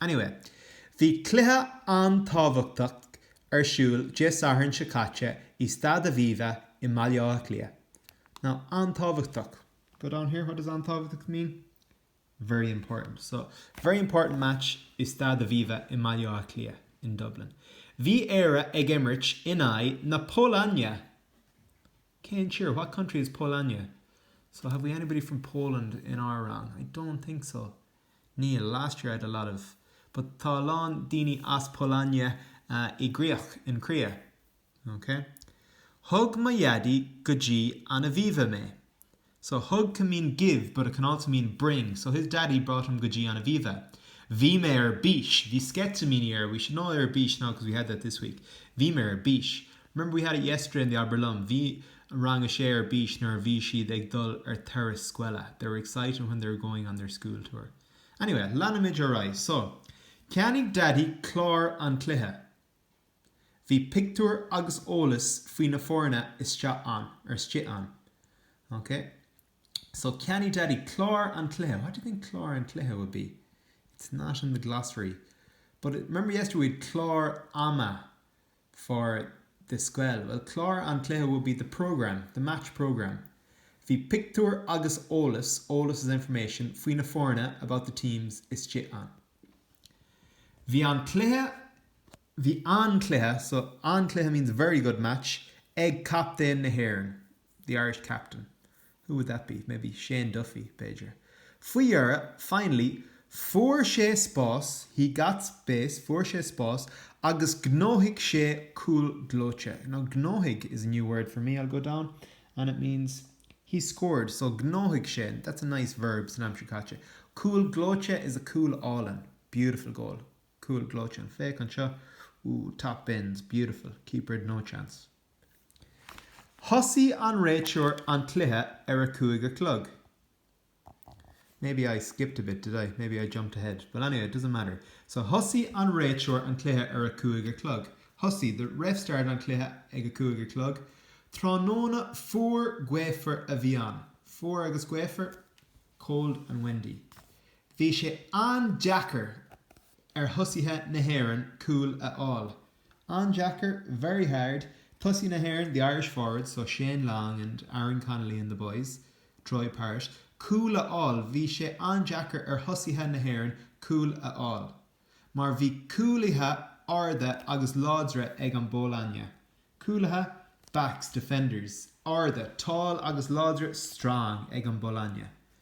Anyway, bhí cluiche an-tábhachtach ar siúl Dé Sathairn seo caite i Staid Aviva i mBaile Átha Cliath. Now, an-tábhachtach. Go down here, what does an-tábhachtach mean? Very important. So, very important match i Staid Aviva i mBaile Átha Cliath, in Dublin. Bhí Éire ag imirt in aghaidh na Polainne! Cén tír? What country is Polainne? So, have we anybody from Poland in our rang? I don't think so. Níl, last year I had a lot of but tá a lán daoine as Polainne i gcríoch in cria. ok Thug mo dhaidí go dtí an Aviva mé so thug can mean give but it can also mean bring so his daddy brought him go dtí an Aviva Bhí mé ar bís Bhí sceitimíní ar we should know ar bís now because we had that this week Bhí mé ar bís Remember we had it yesterday in the Abair Liom, bhí rang a sé ar bís nuair a bhí siad ag dul ar turas scoile they were excited when they were going on their school tour. Anyway, leanfaimid ar aghaidh. So, Cheannaigh Daidí clár an chluiche. Bhí pictiúir agus eolas faoi na foirne isteach ann, or istigh ann. Ok? So, Cheannaigh Daidí clár an chluiche. What do you think clár an chluiche would be? It's not in the glossary. But remember yesterday we had clár ama. for the scoile? Bhuel, clár an chluiche would be the programme, the match programme. Bhí pictiúir agus eolas, eolas is information, faoi na foirne, about the teams, istigh ann. Bhí an-chluiche, bhí an-chluiche, so an-chluiche means very good match, ag captaen na hÉireann. The Irish captain, who would that be? Maybe Shane Duffy, b'fhéidir. Faoi dheireadh, finally, fuair sé spás, he got space, fuair sé spás agus ghnóthaigh sé cúl gleoite. Now, ghnóthaigh is a new word for me, I'll go down, and it means he scored. So, ghnóthaigh sé, that's a nice verb san aimsir chaite. Cúl gleoite is a cúl álainn, beautiful goal. Cúl gleoite, and féach anseo, ooh, top bins, beautiful, keeper had no chance. Thosaigh an réiteoir an cluiche ar a cúig a chlog. Maybe I skipped a bit, did I? Maybe I jumped ahead. But anyway, it doesn't matter. So, Thosaigh an réiteoir an cluiche ar a cúig a chlog. Thosaigh, the ref started an cluiche ag a cúig a chlog. Tráthnóna fuar gaofar a bhí ann. Fuar agus gaofar, cold and windy. Bhí sé an-deacair ar thosaithe na hÉireann cúl a fháil. An-deacair, very hard. Tosaithe na hÉireann, the Irish forwards, so Shane Long and Aaron Connolly and the boys, Troy Parrott, cúl a fháil. Bhí sé an-deacair ar thosaithe na hÉireann cúl a fháil. Mar bhí cúlaithe arda agus láidre ag an bPólainne. Cúlaithe, backs, defenders, arda, tall, agus láidre, strong, ag an bPolainne.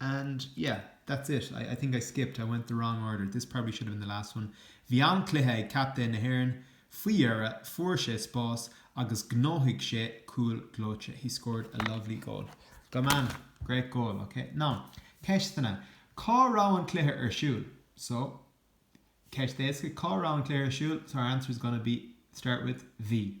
And yeah, that's it. I, I think I skipped, I went the wrong order, this probably should have been the last one. Bhí an-chluiche ag captaen na hÉireann. Faoi dheireadh, fuair sé spás agus ghnóthaigh sé cúl gleoite. He scored a lovely goal. Go man, great goal, ok? Now, ceisteanna. Cá raibh an cluiche ar siúl? So, ceist éasca, cá raibh an cluiche ar siúl? So our answer is gonna be, start with, Bhí.